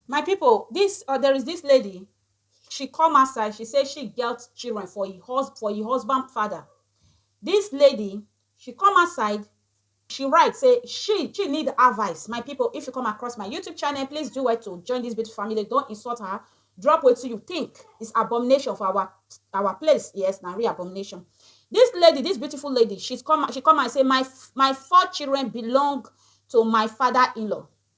My people this or there is this lady she come outside she say she get children for e hus for e husband father this lady she come outside she write say she she need advice my people if you come across my youtube channel please do well to join this beautiful family don insult her drop wetin you think is abomination for our our place yes na real abomination this lady this beautiful lady she's come she come and say my my four children belong to my father in-law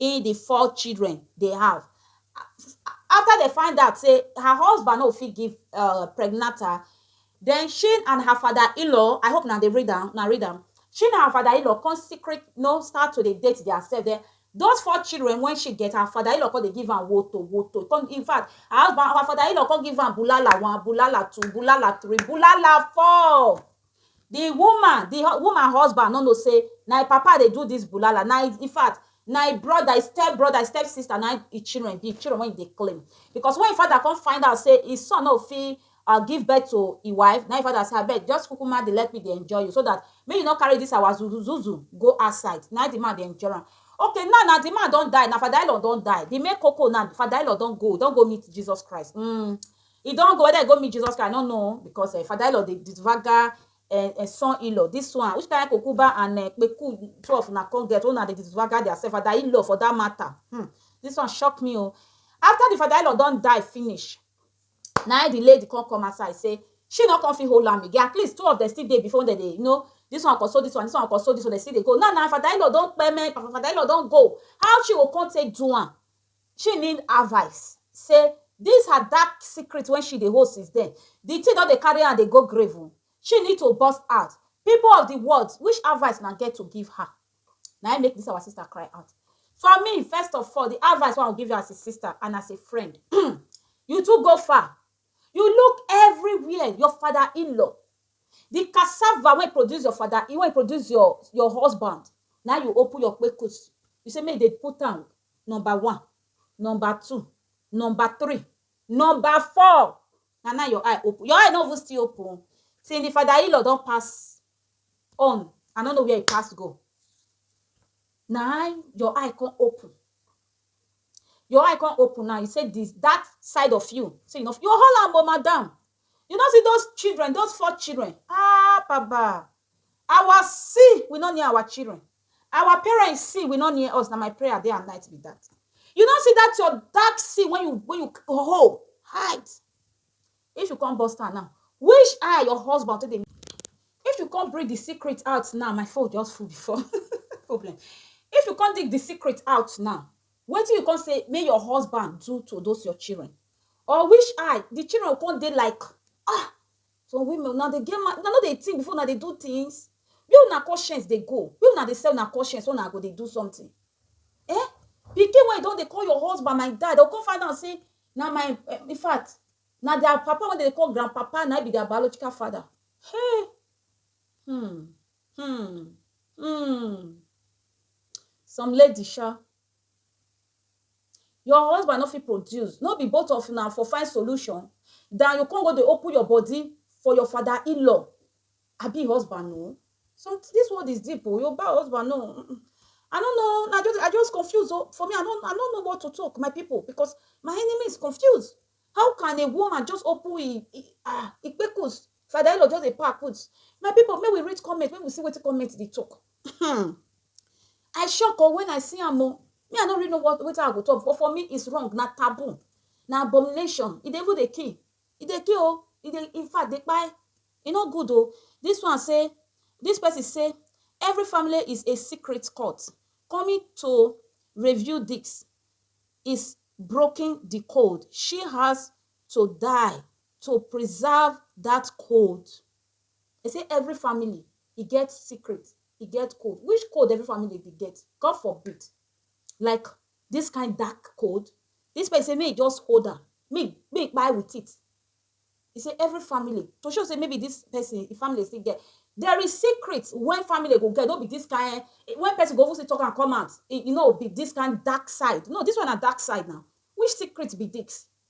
in the four children they have after they find out say her husband no fit give uh, pregnant her then she and her father-in-law i hope now they read them now read them she and her father-in-law come secret no start to the date they are said there those four children when she get her father-in-law come they give her woto woto come in fact her husband her father-in-law come give her bulala one bulala two bulala three bulala four Di woman di woman husband no know say na im papa dey do dis bulala na im in fact na im brother im step brother im step sister na im im children be children wey im dey claim because when im father come find out say im son no fit um give birth to im wife na im im father say abeg just kukuma dey let me dey enjoy you so dat make you no carry dis our zuzuzuzu go outside na im di man dey enjoy am okay now na di man don die na father in law don die di main koko now father in law don go don go meet Jesus Christ um E don go, whether e go meet Jesus Christ, I no know because um Father Elon dey disvaga um um son Elon. This one, which kind kokuba and um kpeku two of una come get wey una dey disvaga their self, Father Elon for that matter. Hmm, this one shock me o. After the Father Elon don die finish, na im the lady come come outside say she no come fit hold am again. At least two of them still dey before wey dem dey you know, this one console this one, this one console this one, dem still dey go. Now na Father Elon don kpeme, Father Elon don go, how she go come take do am? She need advice say this her dark secret wey she dey hold since then, the thing don dey carry am dey go grave o, she need to burst out, people of the world which advice una get to give her? Na im make this our sister cry out. For me first of all the advice wey I go give you as a sister and as a friend um you too go far, you look everywhere your father in-law, the cassava wey produce your father wey produce your husband na im you open your kpekus you say make dem put am Number one, number two, number three, number four na now your eye open, your eye no even still open o till di father in law don pass on I no know where e pass go na im your eye come open, your eye come open now you say di dat side of you say you no fit you hold am o madam you no see those children those four children ahh baba our see we no near our children Our parents sin will not near us. Na my prayer day and night be that. You don't see that your dark sin when you when you hold hide. If you come bust her now, which eye your husband take dey? If you come bring the secret out now, my phone just full before problem. If you come dig the secret out now, what do you come say may your husband do to those your children? Or which eye the children come dey like ah Some women una dey get mind, una no dey think before una dey do things? Where una conscience dey go? Where una dey sell una conscience when una go dey do something? Ehn! Pikin wey you don dey call your husband my dad, dem go come find out say na my, in fact, na their papa wey dem dey call grandpapa na im be their biological father. Hey! Hmm! Hmm! Hmm! Some ladies sha, Your husband no fit produce, no be both of una for find solution dan you come go dey open your body for your father in-law abi husband no. Some dis world is deep o, Yoruba husband no um I no know na just I just confuse o, for me I no I no know what to talk my pipu because my enemy is confused, how can a woman just open e e um e kpekus, father in-law just dey pack put. My pipu make we read comment make we see wetin comment dey talk. Hmm. I shock oh when I see am oh. Me, I no really know what wetin I go talk, but for me, it's wrong. Na taboo. Na abomination. E dey even dey kill. E dey kill oh. E dey, in fact, dey kpai. E no good oh. This one say, this person say, every family is a secret court. Coming to review this is broken the code. She has to die to preserve that code. Dem say every family e get secret, e get code. Which code every family dey get? God forbid like dis kain dark code. Dis pesin say make e just hold am, make make e kpai wit it. E say every family to show sey maybe dis pesin e family still get. There is secret wey family go get, no be dis kain wey pesin go even still talk am come out, e e no be dis kain dark side. No, dis one na dark side now. Which secret be dis?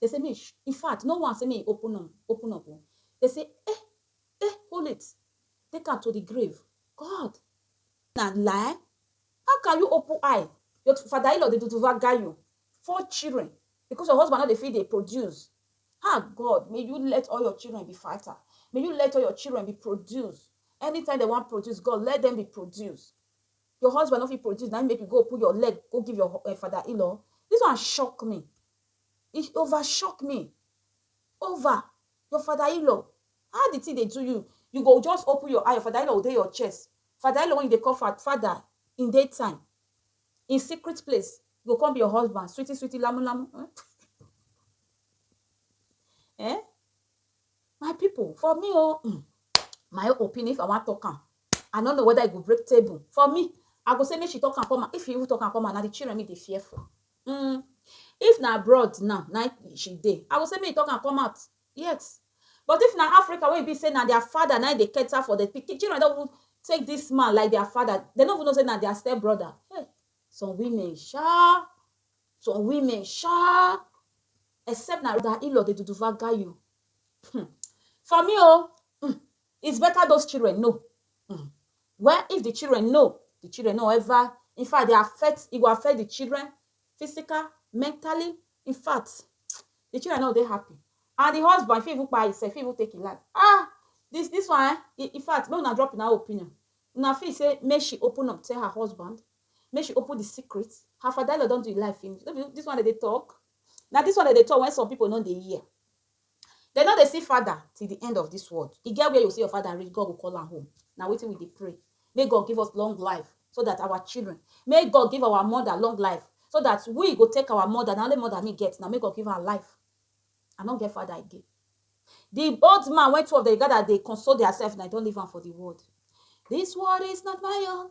Dey say make e in fact no one say make e open am open up o dey say eh eh hold it take am to the grave God na lie how can you open eye your father in-law dey duduvaga you four children because your husband no dey fit dey produce ah God may you let all your children be fighter may you let all your children be produce anytime dey wan produce God let them be produce. Your husband no fit produce na im make you go put your leg go give your um father in-law? This one shock me. E over shock me. Over your father in-law. How the thing dey do you? You go just open your eye, your father in-law go dey your chest. Father in-law wey you dey call fa father in day time, in secret place go come be your husband, sweetie sweetie lamu lamu um. um My people, for me oh, mm, my opinion, if I want talk am, I no know whether I go break table. For me, I go say make she talk am come out. If you even talk am come out, na the children me dey fear for. Mm. If na abroad now, na she dey. I go say make you talk am come out. Yes. But if na Africa wey e be say na their father na im dey cater for the pikin, children don even take this man like their father. They no even know say na their step brother. Hey, some women sha. Some women sha except na Rhoda Ilo dey duduva guy you. Hmm. For me oh, hmm, it's better those children know. Hmm. Well, if the children know, the children no ever, in fact, they affect, it go affect the children physical, mentally. In fact, the children no dey happy. And the husband fit even kpai himself, fit even take him life. Ah, this this one, eh, in in fact, make una drop una opinion. Una feel say make she open up, tell her husband Make she open the secret. Her father law don do him life finish. No be this one dem dey talk. Na this one dem dey talk when some people no dey hear. Dem no dey see father till the end of this world. E get where you see your father reach, God go call am home. Na wetin we dey pray. Make God give us long life so that our children, make God give our mother long life so that we go take our mother. Na only mother me get. Na make God give am life. I no get father again. The old man when two of them gather dey console theirself, na e don leave am for the world. This world is not my own.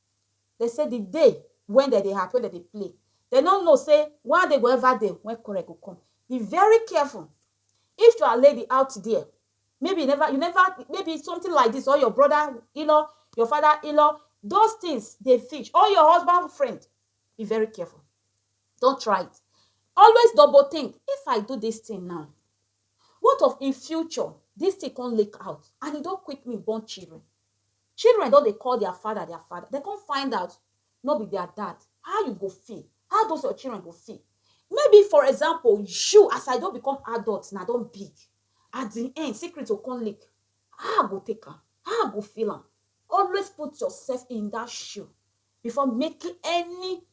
Dem say di day wen dem dey happy, wen dem dey play, dem no know say one day go ever dey wen quarrel go come. Be very careful. If you are lady out there, maybe you never, you never, maybe something like dis or your brother in-law, your father in-law, those things dey fish or your husband friend, be very careful. Don't try it. Always double think, if I do dis thing now, what of in future, dis thing come leak out and e don quick me born children? Children don dey call their father their father, dem come find out no be their dad, how you go feel? How those your children go feel? Maybe for example you as I don become adult now, I don big, at the end secret go come leak, how I go take am? How I go feel am? Always put yourself in that shoe before making any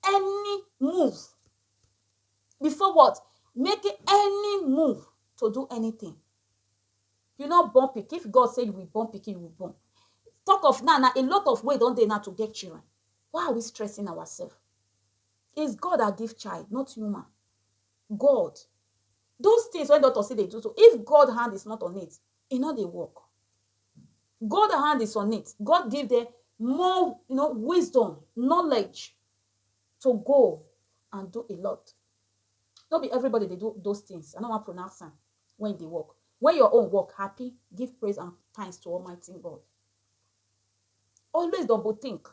any move, before what? Making any move to do anything. you no born pikin if God say you will born pikin you will born talk of now now a lot of way don dey now to get children why are we stressing ourselves is God that give child not human God those things when doctor say they do so if God hand is not on it e no dey work God hand is on it God give them more you know wisdom knowledge to go and do a lot no be everybody dey do those things i no wan pronounce am when you dey work when your own work happy give praise and thanks to almighty god always double think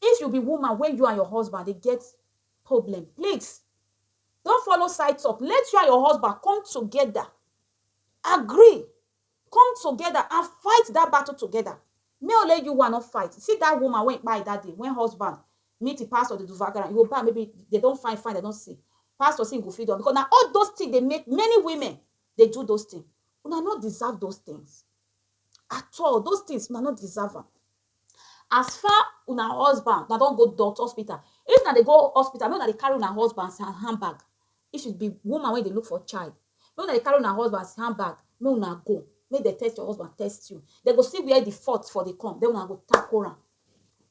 if you be woman when you and your husband dey get problem please don't follow side talk let you and your husband come together agree come together and fight that battle together may only you one no fight see that woman wey kpai that day when husband meet the pastor dey do vagara e go bad maybe they don find find they don see pastor say he go fit do am because na all those things dey make many women dey do those things una no deserve those things at all those things una no deserve am as far una husband una don go doctor hospital if una dey go hospital make una dey carry una husband handbag if you be woman wey dey look for child make una dey carry una husband handbag make una go make dem test your husband test you dem go see where the fault for dey come then una go tackle am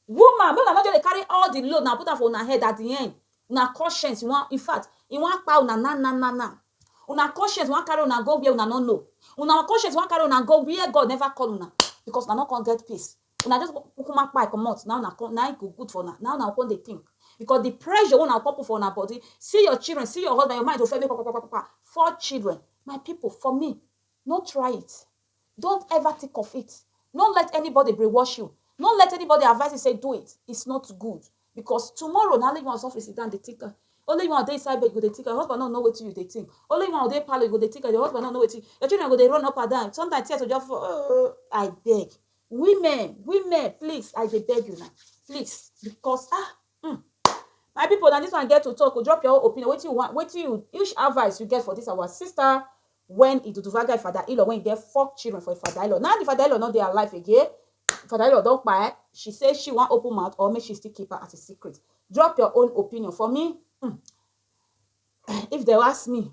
Woman make una no just dey carry all the load una put am for una head at the end una conscience wan infact e wan kpai una now now now now una conscience wan carry una go where una no know una conscience wan carry una go where God never call una because una no come get peace una just kukuma kpai comot na una come na e go good for una na una go come dey think because the pressure wey una come put for una body see your children see your husband your mind go first dey kpakpakpakpa four children my people for me no try it Don't ever think of it, no let anybody brainwash you, no let anybody advise you say do it, it's not good because tomorrow na only you wan suffer sit down dey think am, only you wan dey inside bed you go dey think am, your husband no know wetin you dey think, only you wan dey parlour you go dey think am, your husband no know wetin, your children go dey run up and down, sometimes tears go just fall oh, I beg, women, women please I dey beg una please because ah Hmm my people na this one get to talk o drop your own opinion wetin you want wetin you which advice you get for this our sister when Iduduvaga Ifada Ilo when he get four children for Ifada Ilo now the Ifada Ilo no dey alive again Ifada Ilo don kpai she say she wan open mouth or make she still keep am as a secret drop your own opinion for me hmm if dem ask me